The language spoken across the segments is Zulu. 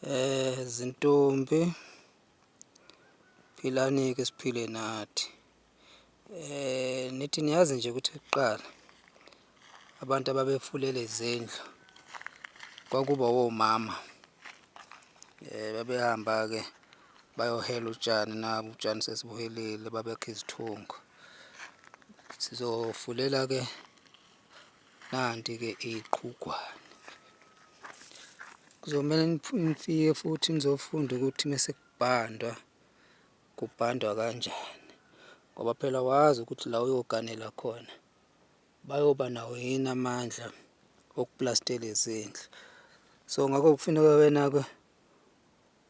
Eh zintombi philani ke siphile nathi. Eh nithi niyazi nje ukuthi kuqala abantu ababefulele izindlu kwakuba womama. Eh babehamba ke bayohela utshani nabo utshani sesibuhelile babekha izithungo. Sizofulela ke Nanti-ke iqhugwane kuzomele nifike futhi nizofunda ukuthi mese kubhandwa kubhandwa kanjani ngoba phela wazi ukuthi la uyoganela khona bayoba nawo yini amandla okuplastela izindlu so ngakho kufuneka wena-ke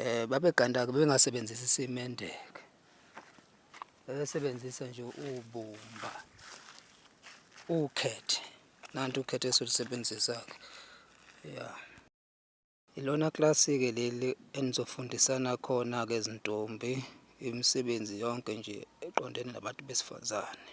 eh babeganda-ke bengasebenzisi isimende-ke bebesebenzisa nje ubumba ukhethe nanti ukhethe esilusebenzisa-ke ya ilona klasi-ke leli enizofundisana khona-ke izintombi imisebenzi yonke nje eqondene nabantu besifazane